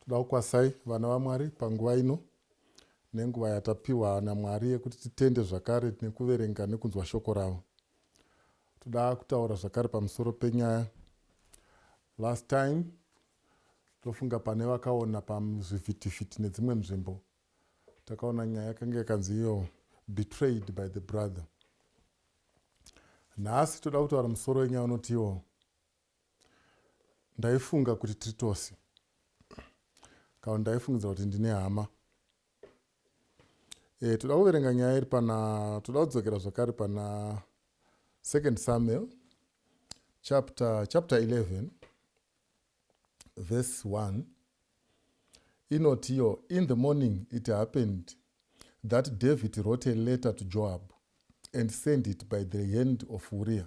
Toda kukwasai vana vaMwari panguva ino nenguva yatapiwa naMwari yekuti titende zvakare nekuverenga nekunzwa shoko ravo. Toda kutaura zvakare pamusoro penyaya. Last time ndofunga pane vakaona pazvivhitivhiti nedzimwe nzvimbo takaona nyaya yakanga yakanzi iyo betrayed by the brother nhasi toda kutaura musoro wenyaya unotiwo Ndaifunga kuti tiri tose. Kana ndaifungidza kuti ndine hama. E, toda kuverenga nyaya iri pana toda kudzokera zvakare pana second Samuel chapter chapter 11 verse 1 inoti iyo in the morning it happened that David wrote a letter to Joab and sent it by the hand of Uriah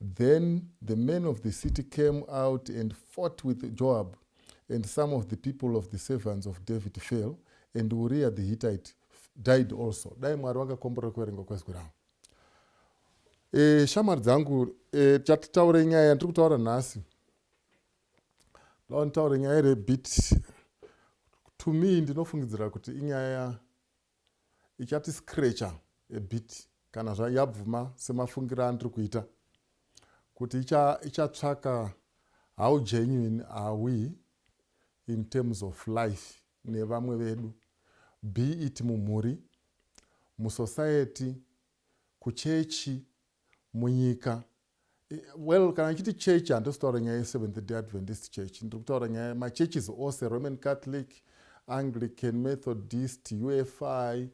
Then the men of the city came out and fought with Joab, and some of the people of the servants of David fell, and Uriah the Hittite died also. Dai Mwari vakakomborera kuverenga kwezwi ravo. E, shamwari dzangu e, chatitaure nyaya yandiri kutaura nhasi ndaonitaure nyaya iri bit to me ndinofungidzira kuti inyaya ichati scratcher a bit kana zvayabvuma semafungiro andiri kuita kuti ichatsvaka icha how genuine are we in terms of life nevamwe vedu be it mumhuri musociety kuchechi munyika well kana chiti church handisi kutaura nyaya yeseventh day adventist church ndiri kutaura nyaya machurches ose roman catholic anglican methodist ufi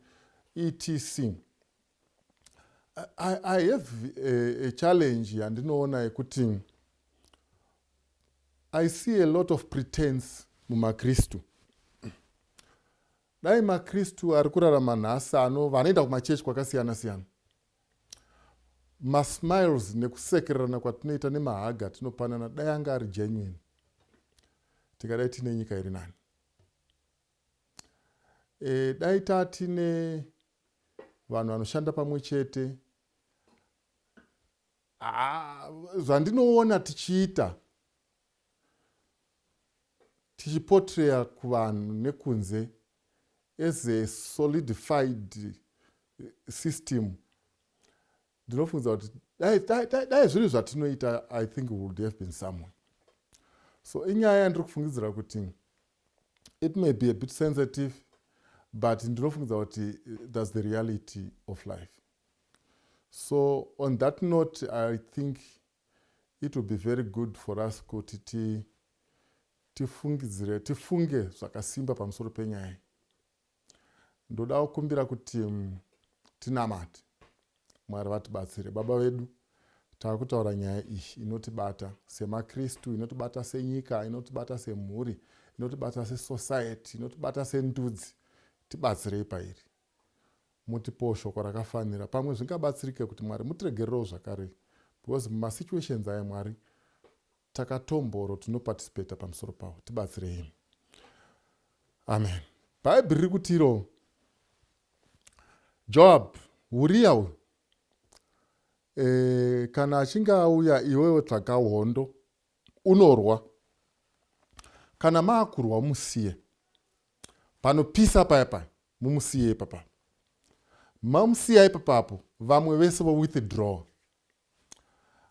etc i, I have a, a challenge yandinoona yekuti i see a lot of pretense mumakristu dai makristu ari kurarama nhasi ano vanoenda kumachechi kwakasiyana siyana Masmiles nekusekererana kwatinoita nemahaga atinopanana dai anga ari genuine tingadai tine nyika iri nani. E, dai tatine vanhu vanoshanda pamwe chete ah, zvandinoona tichiita tichipotraya kuvanhu nekunze as a solidified system ndinofungiza kuti dai zviri zvatinoita i think would have been somewhere so inyaya yandiri kufungidzira kuti it may be a bit sensitive but ndinofungiza kuti eh, thats the reality of life so on that note i think it will be very good for us kuti ti tifungidzire tifunge zvakasimba pamusoro penyaya iyi ndoda kukumbira kuti mm, tinamate mwari vatibatsire baba vedu tava kutaura nyaya iyi inotibata semakristu inotibata senyika inotibata semhuri inotibata sesociety inotibata sendudzi tibatsirei pairi mutipewo shoko rakafanira pamwe zvingabatsirike kuti mwari mutiregererewo zvakare because mumasituations aya mwari takatomboro tinoparticipata pamusoro pawo tibatsirei amen bhaibheri riri kutiro joab uriya uyu e, kana achinge auya iwewe tsvaga hondo unorwa kana maakurwa musiye Panopisa paya paya mumusiye ipapa. Mamusiya ipapa apo vamwe vese vo withdraw.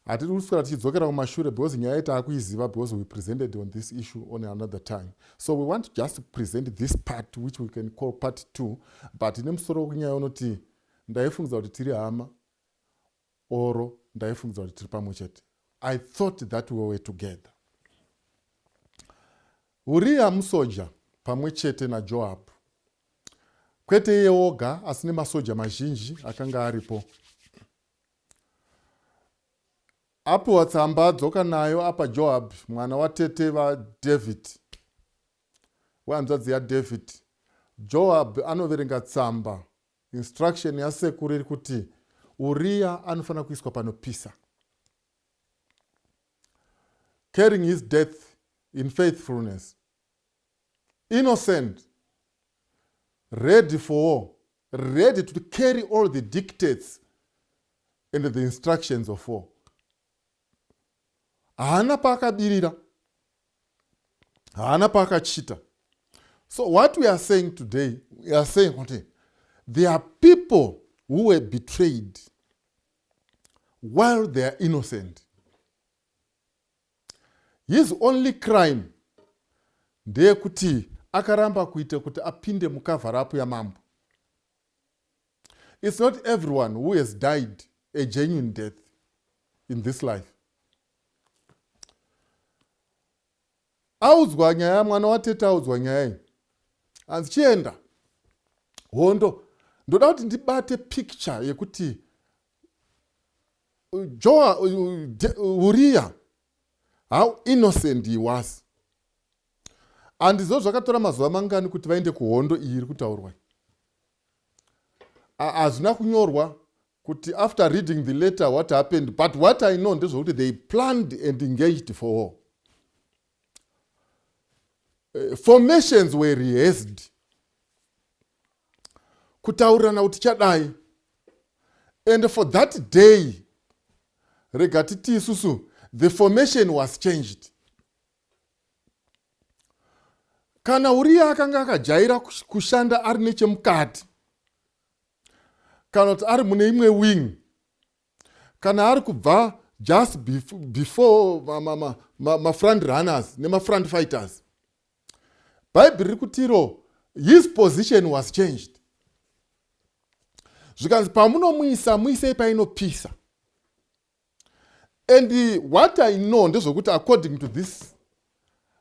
Hatiri kuswera tichidzokera kumashure because nyaya iyi taakuiziva because we presented on this issue on another time. So we want just to present this part which we can call part two but ine musoro kunyaya unoti ndaifungidza kuti tiri hama Or ndaifungidza kuti tiri pamwe chete. I thought that we were together. Uriya musoja pamwe chete naJoab. Kwete iye oga asi nemasoja mazhinji akanga aripo. Apiwa tsamba dzoka nayo apa Joab mwana watete vaDavid wehanzvadzi yaDavid. Joab anoverenga tsamba Instruction yasekuru iri kuti Uriya anofanira kuiswa panopisa. Carrying his death in faithfulness. Innocent. Ready for war. Ready to carry all the dictates and the instructions of war. haana paakabirira haana paakachita so what we are saying today we are saying kuti there are people who were betrayed while they are innocent his only crime ndeyekuti akaramba kuita kuti apinde mucover up yamambo It's not everyone who has died a genuine death in this life. Audzwa nyaya mwana watete audzwa nyaya iyi. Hanzi chienda hondo ndoda kuti ndibate picture yekuti uh, Joa uh, uh, Uriya how innocent he was. Handiziva zvakatora mazuva mangani kuti vaende kuhondo iyi iri kutaurwa iyi. Hazvina kunyorwa kuti after reading the letter what happened but what I know ndezvekuti they planned and engaged for war. Eh, formations were rehearsed kutaurirana kuti chadai and for that day rega titi isusu the formation was changed kana uriye akanga akajaira kushanda ari nechemukati kana kuti ari mune imwe wing kana ari kubva just before mafront runners nemafront fighters bhaibheri riri kutiro his position was changed zvikanzi pamunomuisa muisei painopisa And what I know ndezvekuti according to this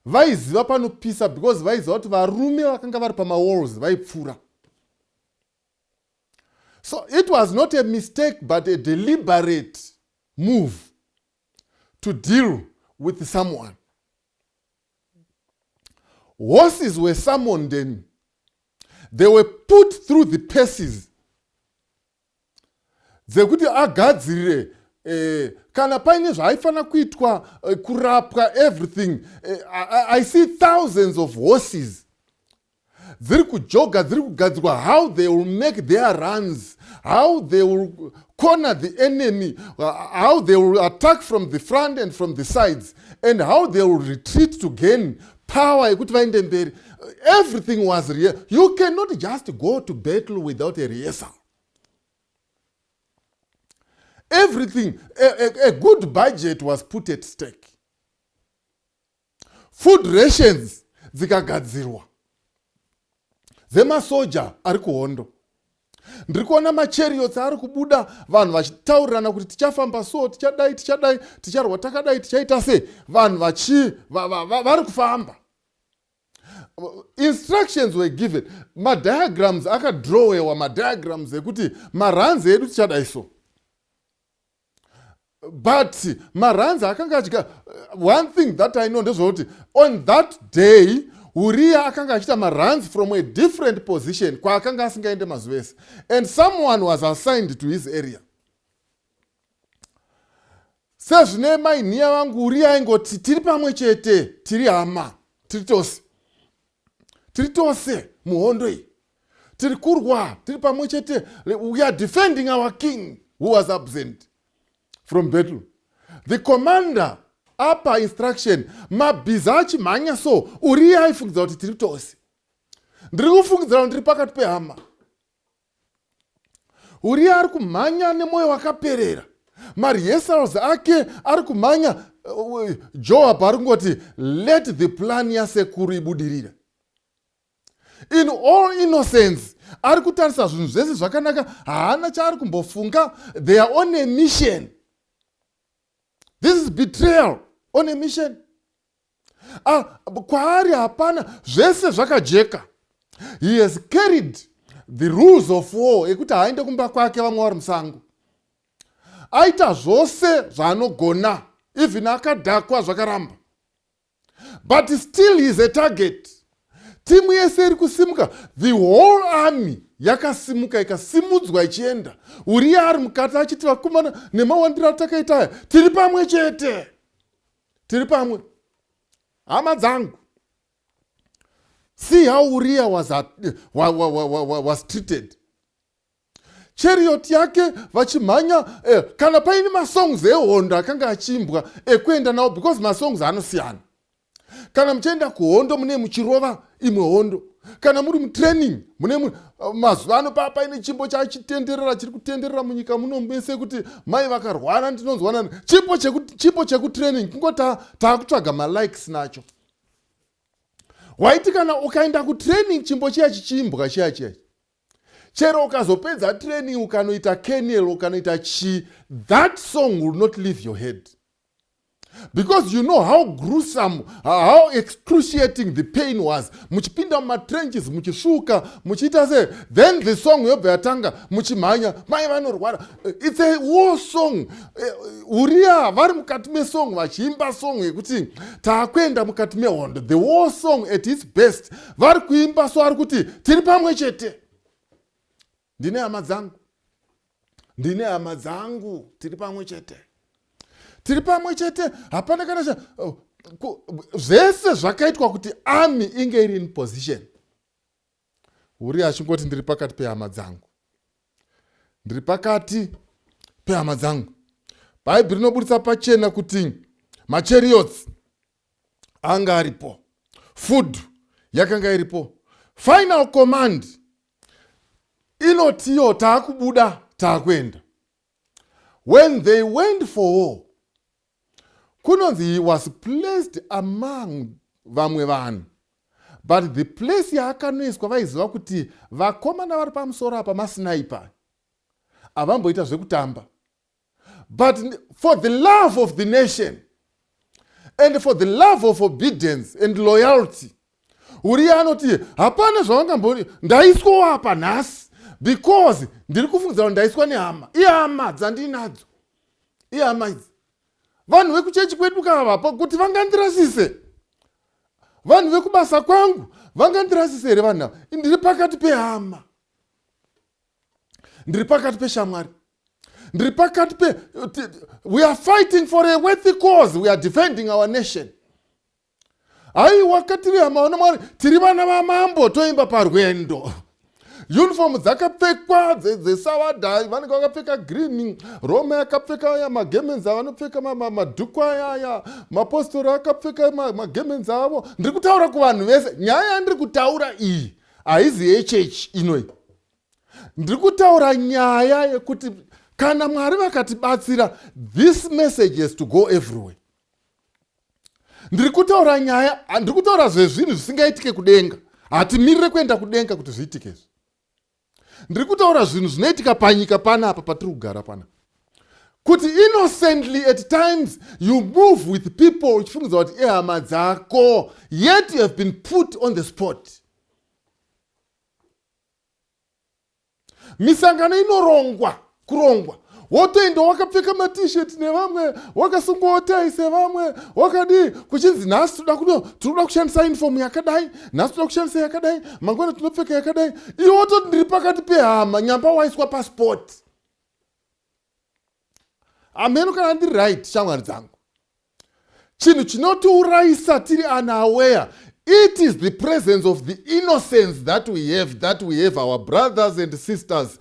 vaiziva panopisa because vaiziva kuti varume vakanga vari pamawalls vaipfuura so it was not a mistake but a deliberate move to deal with someone horses were summoned and they were put through the paces dzekuti agadzirire Eh, kana paine zvaaifanira kuitwa eh, kurapwa everything eh, I, i see thousands of horses dziri kujoga dziri kugadzirwa how they will make their runs how they will corner the enemy how they will attack from the front and from the sides and how they will retreat to gain power yekuti vaende mberi everything was real you cannot just go to battle without a rehearsal everything a, a, a good budget was put at stake food rations dzikagadzirwa dzemasoja ari kuhondo ndiri kuona machariots ari kubuda vanhu vachitaurirana kuti tichafamba so tichadai tichadai ticharwa takadai tichaita sei vanhu vachi vari kufamba instructions were given madiagrams akadrowewa madiagrams ekuti maranzi edu tichadai so but maranzi akanga achika uh, one thing that i know ndezvekuti on that day uriya akanga achiita maranzi from a different position kwaakanga asingaende mazuva ese and someone was assigned to his area sezvine mainhiya vangu uriya aingoti tiri pamwe chete tiri hama tiri tose tiri tose muhondo iyi tiri kurwa tiri pamwe chete we are defending our king who was absent from battle the commander apa instruction mabhiza achimhanya so uriye aifungidza kuti tiri tose ndiri kufungidzira kuti ndiri pakati pehama Uriya ari kumhanya nemwoyo wakaperera. Marehearsals ake ari kumhanya uh, Joab ari kungoti let the plan yasekuru ibudirire. In all innocence ari kutarisa zvinhu zvese zvakanaka haana chaari kumbofunga they are on a mission. This is betrayal on a mission. ah, kwaari hapana zvese zvakajeka he has carried the rules of war ekuti haaende kumba kwake vamwe vari musango aita zvose zvaanogona even akadhakwa zvakaramba but still he is a target timu yese iri kusimuka the whole army yakasimuka ikasimudzwa ichienda uriya ari mukati achiti vakomana nemawandiro atakaita aya tiri pamwe chete tiri pamwe hama dzangu see how uria was, at, wa, wa, wa, wa, wa, was treated chariot yake vachimhanya eh, kana paine masongs ehondo akanga achiimbwa ekuenda nawo because masongs anosiyana kana muchienda kuhondo mune muchirova imwe hondo kana muri mutraining mune uh, mazuva ano paa paine chimbo chachitenderera chiri kutenderera munyika muno mese kuti mai vakarwara ndinonzwanani chimbo chekutraining kungo taakutsvaga malikes nacho waiti kana ukaenda kutraining chimbo chiya chichiimbwa chiya chiya chero ukazopedza training ukanoita kenel ukanoita chii that song will not leave your head because you know how gruesome how excruciating the pain was muchipinda mumatrenches muchisvuka muchiita se then the song yobva yatanga muchimhanya mai vanorwara eh, its a war song eh, uriya vari mukati mesong vachiimba song yekuti taakuenda mukati mehondo the war song at its best vari kuimba so ari kuti tiri pamwe chete ndine hama dzangu ndine hama dzangu tiri pamwe chete tiri pamwe chete hapana kana cha oh, zvese zvakaitwa kuti army inge iri in position uri achingoti ndiri pakati pehama dzangu ndiri pakati pehama dzangu bhaibheri rinoburitsa pachena kuti machariots anga aripo food yakanga iripo final command inotiyo taakubuda taakuenda when they went for war kunonzi he was placed among vamwe vanhu but the place yaakanoiswa vaiziva kuti vakomana vari pamusoro apa masinaipa avamboita zvekutamba but for the love of the nation and for the love of obedience and loyalty uriye anoti hapana zvavangamboni ndaiswawo apa nhasi because ndiri kufungidza kuti ndaiswa nehama ihama dzandiinadzo ihama idzi vanhu vekuchechi kwedu kavapa kuti vangandirasise vanhu vekubasa kwangu vangandirasise here vanhu ava ndiri pakati pehama ndiri pakati peshamwari ndiri pakati pe we are fighting for a worthy cause we are defending our nation haiwa katiri hamaona mwari tiri vana vamambo toimba parwendo uniform dzakapfekwa dzesavadha vanenge vakapfeka green roma yakapfeka aya magemenzi avanopfeka madhuku aya aya mapostori akapfeka magemenzi avo ndiri kutaura kuvanhu vese nyaya yandiri kutaura iyi haizi yechechi inoi ndiri kutaura nyaya yekuti kana mwari vakatibatsira this message has to go everywhere ndiri kutaura nyaya ndiri kutaura zvezvinhu zvisingaitike kudenga hatimirire kuenda kudenga kuti zviitike izvi ndiri kutaura zvinhu zvinoitika panyika panapa patiri kugara panapa kuti innocently at times you move with people uchifungidzwa kuti ihama dzako yet you have been put on the spot misangano inorongwa kurongwa wotoenda wakapfeka matisheti nevamwe wakasungawo tai sevamwe wakadii kuchinzi nhasi toda kuno tinoda kushandisa uniform yakadai nhasi toda kushandisa yakadai mangwana tinopfeka yakadai iwe wototi ndiri pakati pehama nyamba waiswa paspoti ameno kana ndiri right shamwari dzangu chinhu chinotiurayisa tiri unaware it is the presence of the innocence that we have that we have our brothers and sisters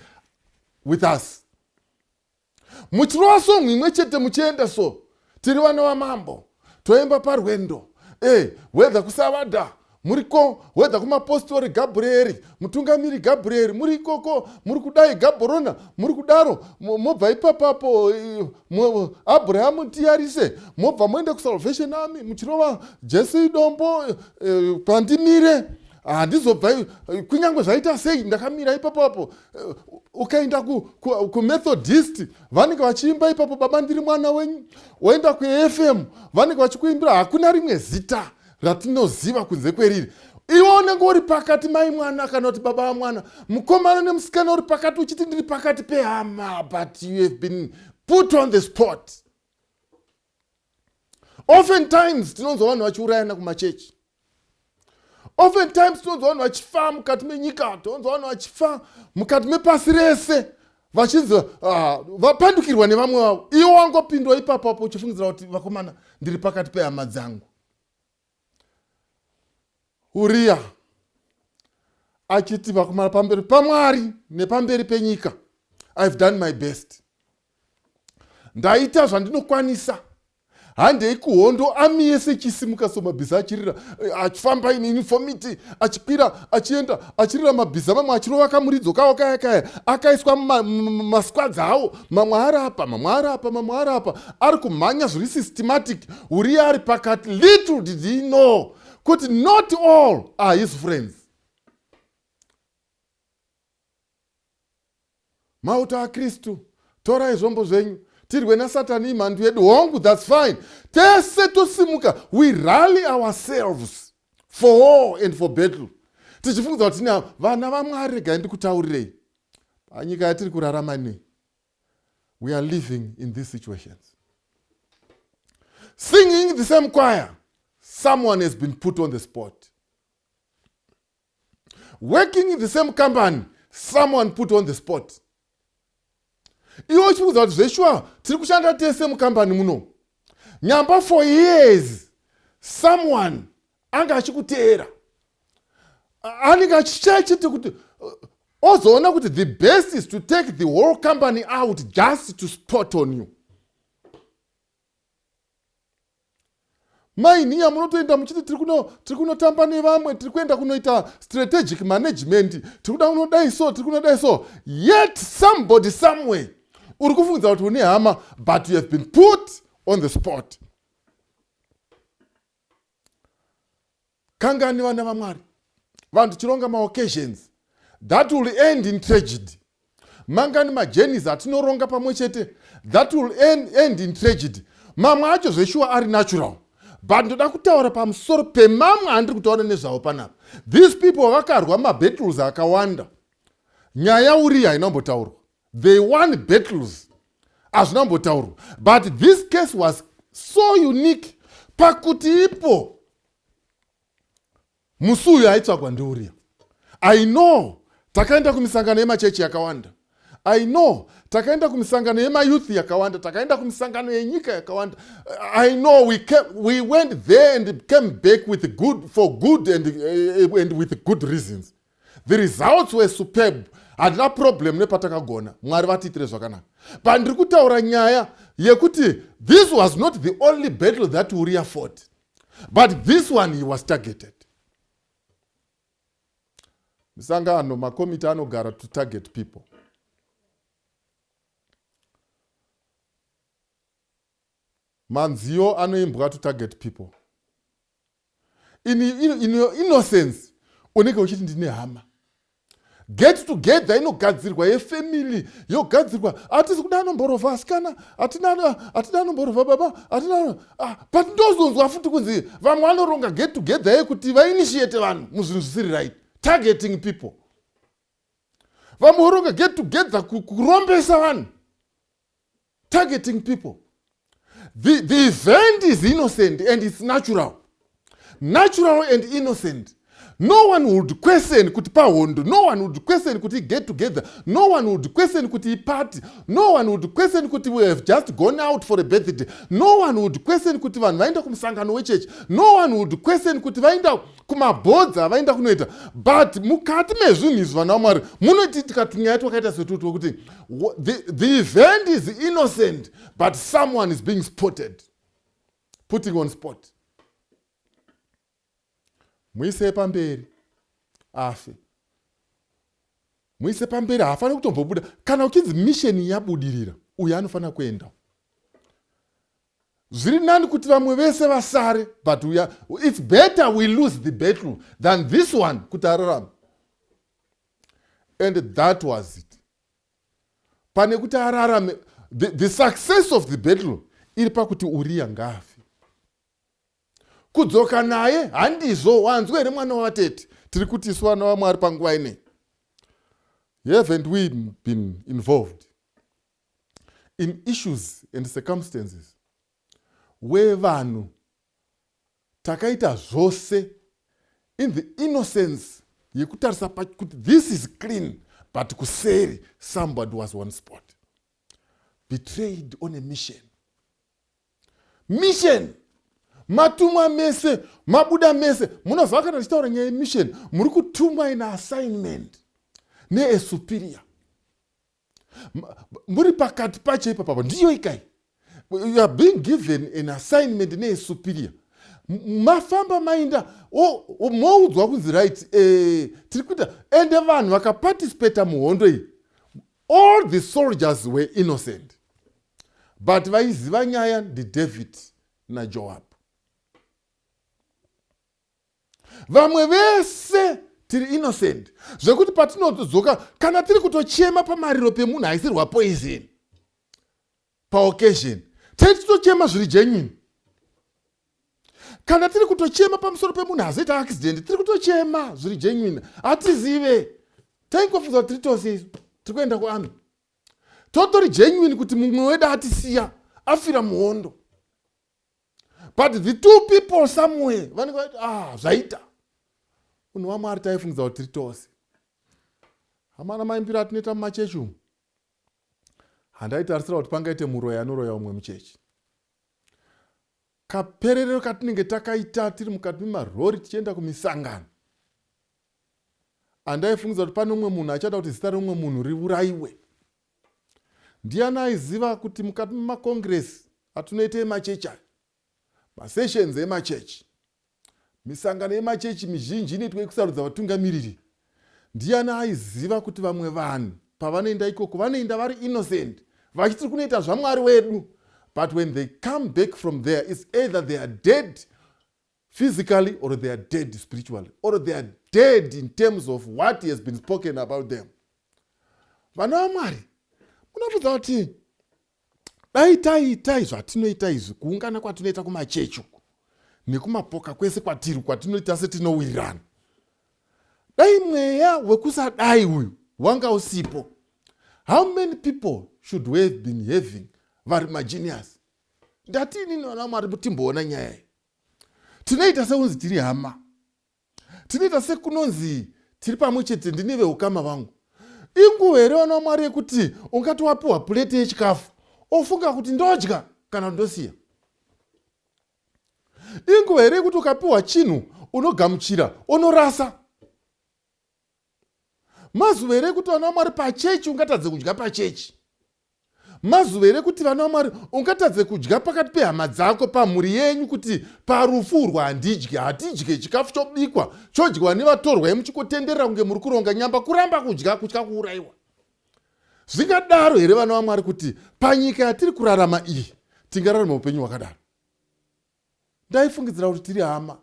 with us muchirova song imwe chete muchienda so Tiri vana vamambo toemba parwendo e eh, wedha kusavada muriko wedha kumapostori gabhureri mutungamiri gabhureri muri ikoko muri kudai gabhorona muri kudaro mobva ipapapo abrahamu tiyarise mobva moenda kusalvation army muchirova jesu idombo eh, pandimire handizobva kunyange zvaita sei ndakamira ipapapo Eh, ukaenda kumethodist ku, ku vanenge vachiimba ipapo baba ndiri mwana wenyu waenda kufm vanenge vachikuimbira hakuna rimwe zita ratinoziva kunze kweriri iwe unenge uri pakati mai mwana kana kuti baba vamwana mukomana nemusikana uri pakati uchiti ndiri pakati pehama but you have been put on the spot often times tinonzwa vanhu vachiurayana kumachechi often times tinonzwa vanhu vachifa mukati menyika tinonzwa vanhu vachifa mukati mepasi rese vachinzi ah, vapandukirwa nevamwe vavo iwo wangopindwa ipapo apo uchifungidzira kuti vakomana ndiri pakati pehama dzangu Uriya achiti vakumara pamberi pamwari nepamberi penyika ihave done my best ndaita zvandinokwanisa handei kuhondo ami yese ichisimuka so mabhiza achirira eh, achifamba in uniformity achikwira achienda achirira mabhiza mamwe achirova kamuridzo kawo kaya kaya akaiswa masquads awo mamwe ari apa mamwe ari apa mamwe ari apa ari kumhanya zviri systematic uriya ari pakati little did he know kuti not all are his friends mauto akristu torai zvombo zvenyu tirwe nasatani imhandu yedu hongu thats fine tese tosimuka we rally ourselves for war and for battle tichifungidzwa kuti tine vana vamwari regai ndikutaurirei panyika yatiri kurarama inei we are living in these situations singing the same choir someone has been put on the spot working in the same company someone put on the spot iwe uchikuudza kuti zveshuwa tiri kushanda tese mukambani muno nyamba for years someone anga achikuteera anenge achichaichiti kuti ozoona kuti the best is to take the whole company out just to spot on you mainiya munotoenda muchiti tiri kunotamba nevamwe tiri kuenda kunoita strategic management tiri kuda kunodai so tiri kunodai so yet somebody somewhere uri kufungidza kuti une hama but you have been put on the spot kangani vana vamwari vanhu tichironga maoccasions that will end in tragedy mangani majenis atinoronga pamwe chete that will end, end in tragedy mamwe acho zveshuwa ari natural but ndoda kutaura pamusoro pemamwe andiri kutaura nezvavo panapa these people vakarwa mabattles akawanda nyaya uriyi haina kumbotaurwa they won battles hazvina kumbotaurwa but this case was so unique pakuti ipo musi uyu aitsvagwa ndiuria i know takaenda kumisangano yemachechi yakawanda i know takaenda kumisangano yemayouth yakawanda takaenda kumisangano yenyika yakawanda i know we, came, we went there and came back with good for good and, uh, and with good reasons The results were superb handina problem nepatakagona mwari vatiitire zvakanaka but ndiri kutaura nyaya yekuti this was not the only battle that uria fort but this one he was targeted misangano makomiti anogara to target people manziyo anoimbwa to target people in, in, in your innocence unenge uchiti ndine hama get together inogadzirwa yefamily yogadzirwa hatisi kuda anomborova asikana hatida anomborova baba hatina ah, but ndozonzwa futi kunzi vamwe vanoronga get together yekuti vainitiate vanhu muzvinhu zvisiri right targeting people vamwe voronga get together kurombesa vanhu targeting people the, the event is innocent and its natural natural and innocent no one would question kuti pahondo no one would question kuti get together no one would question kuti iparty no one would question kuti we have just gone out for a birthday no one would question kuti vanhu vaenda kumusangano wechechi no one would question kuti vaenda kumabhodza avaenda kunoita but mukati mezvinhu izvi vana vamwari munotiitika tunyaya twakaita setutwo kuti the, the event is innocent but someone is being spotted putting on spot muisei pamberi afe muise pamberi haafaniri kutombobuda kana uchinzi misheni yabudirira uyo anofanira kuenda zviri nani kuti vamwe vese vasare but we are, it's better we lose the battle than this one kuti ararame and that was it pane kuti ararame the, the success of the battle iri pakuti uriya ngaafe kudzoka naye handizvo wanzwa here mwana wavatete tiri kuti isu vana vamwari panguva inei haven't we been involved in issues and circumstances where vanhu takaita zvose in the innocence yekutarisa kuti this is clean but kuseri somebody was one spot betrayed on a mission mission matumwa mese mabuda mese munoziva kana tichitaura nyaya yemission muri kutumwa ina assignment neesuperior muri pakati pacho ipa papa ndiyo ikai you are being given an assignment neesuperior mafamba mainda moudzwa kunzi right eh, tiri kuita ende vanhu vakaparticipata muhondo iyi all the soldiers were innocent but vaiziva nyaya ndidavid najoab vamwe vese tiri innocent zvekuti patinodzoka kana tiri kutochema pamariro pemunhu aisirwa poison paoccasion tei titochema zviri genuine kana tiri kutochema pamusoro pemunhu azoita accident tiri kutochema zviri genuine hatizive taingofunza kuti tiri tose isu tiri kuenda kuarmy totori genuine kuti mumwe wedu atisiya afira muhondo but the two people somewhere vanenge vati ah zvaita unhu wamwari taifungidza kuti tiri tose hamana maimbiro atinoita mumachechi umu handaitarisira kuti pangaite muroyi anoroya umwe muchechi kapererero katinenge takaita tiri mukati memarori tichienda kumisangano andaifungidza kuti pane umwe munhu achada kuti zita reumwe munhu riurayiwe Ndiani aiziva kuti mukati memakongiresi atinoita emachechi aya, masessions emachechi, misangano yemachechi mizhinji inoitwa yekusarudza vatungamiriri, ndiani aiziva kuti vamwe vanhu pavanoenda ikoko vanoenda vari innocent vachiti tiri kunoita zvamwari wedu but when they come back from there is either they are dead physically or they are dead spiritually or they are dead in terms of what has been spoken about them vana vamwari munobvudza kuti dai taiitai zvatinoita izvi kuungana kwatinoita kumachechi uku nekumapoka kwese kwatiri kwatinoita setinowirirana dai mweya wekusadai uyu wanga usipo how many people should we have been having vari magenius ndati inini vana mwari mutimboona nyaya iyi tinoita sekunzi tiri hama tinoita sekunonzi tiri pamwe chete ndine veukama vangu inguva here vana vamwari yekuti ungati wapiwa pureti yechikafu ofunga kuti ndodya kana ndosiya inguva here yekuti ukapiwa chinhu unogamuchira onorasa mazuva here yekuti vana vamwari pachechi ungatadze kudya pachechi Mazuva here kuti vana vaMwari ungatadze kudya pakati pehama dzako pamhuri yenyu kuti parufu urwa handidye hatidye chikafu chobikwa chodyiwa nevatorwa yemuchikotenderera kunge muri kuronga nyamba kuramba kudya kutya kuurayiwa zvingadaro here vana vamwari kuti panyika yatiri kurarama iyi tingararama upenyu hwakadaro ndaifungidzira kuti tiri hama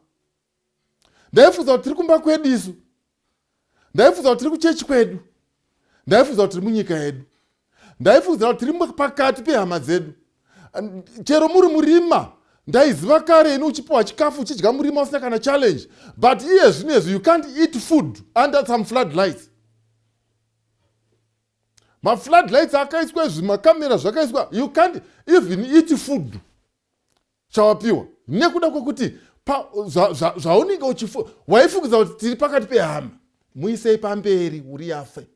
ndaifungidzira kuti tiri kumba kwedu isu ndaifungidzira kuti tiri kuchechi kwedu ndaifungidzira kuti tiri munyika yedu ndaifungidzira kuti tiri pakati pehama dzedu chero muri murima ndaiziva kare ini uchipiwa chikafu uchidya murima usina kana challenge but iye zvino izvi you can't eat food under some flood lights maflood lights akaiswa izvi makamera zvakaiswa you can't even eat food chawapiwa nekuda kwekuti zvaunenge uchifu waifungidza kuti tiri pakati pehama muisei pamberi uri yafe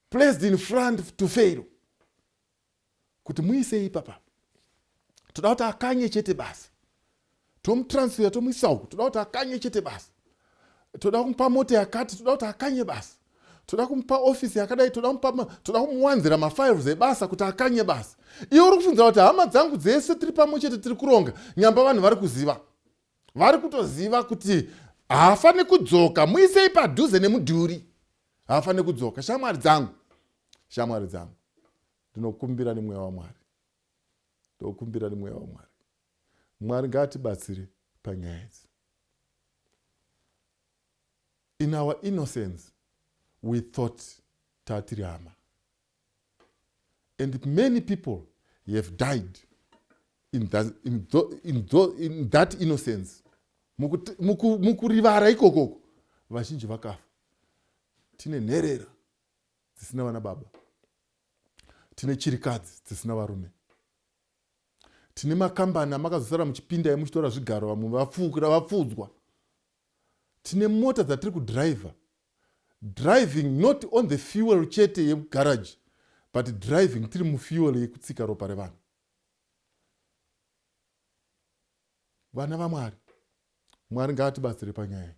placed in front to fail kuti muisei ipapa toda kuti akanye chete basi tomutransfera tomuisa uku toda kuti akanye chete basi toda kumupa mota yakati toda kuti akanye basi toda kumupa ofisi yakadai toda kumupa toda kumuwanzira mafiles ebasa kuti akanye basi iwe uri kufunzira kuti hama dzangu dzese tiri pamwe chete tiri kuronga nyamba vanhu vari kuziva vari kutoziva kuti haafaniri kudzoka muisei padhuze nemudhuri haafaniri kudzoka shamwari dzangu shamwari dzangu ndinokumbira nemweya wamwari ndokumbira nemweya wamwari Mwari ngaatibatsire panyaya idzi. In our innocence we thought tatiri hama and many people have died in that, in tho, in tho, in that innocence mukurivara ikokoko vazhinji vakafa tine nherera dzisina vana baba tine chirikadzi dzisina varume tine makambani amakazosara muchipinda emuchitora zvigaro vamwe vapfuukira vapfuudzwa tine mota dzatiri kudriver driving not on the fuel chete yegaraji but driving tiri mufuel yekutsika ropa revanhu vana vamwari mwari ngaatibatsire panyaya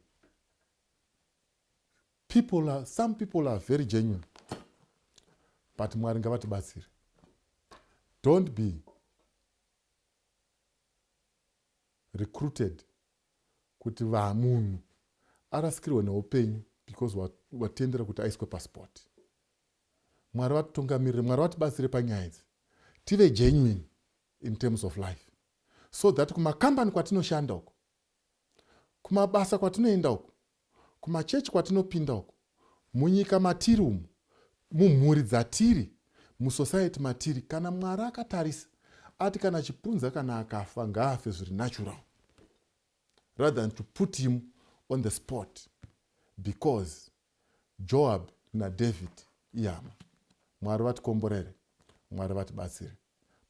people are, some people are very genuine but mwari ngavatibatsire don't be recruited kuti vamunhu arasikirwe neupenyu because watendera kuti aiswe pasport mwari vatitungamirire mwari vatibatsire panyaya idzi tive genuine in terms of life so that kumakambani kwatinoshanda uko Kumabasa kwatinoenda uku, kumachechi kwatinopinda uku, munyika matiri umu, mumhuri dzatiri, musociety matiri, kana Mwari akatarisa ati kana Chipunza kana akafa ngaafe zviri natural rather than to put him on the spot because Joab naDavid ihama. Mwari vatikomborere, Mwari vatibatsire.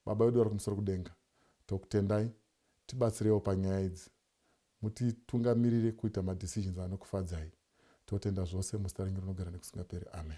Baba vedu vari kumusoro kudenga tokutendai tibatsireiwo panyaya idzi mutitungamirire kuita ma decisions anokufadzai totenda zvose muzita renyu rinogara nekusingaperi amen.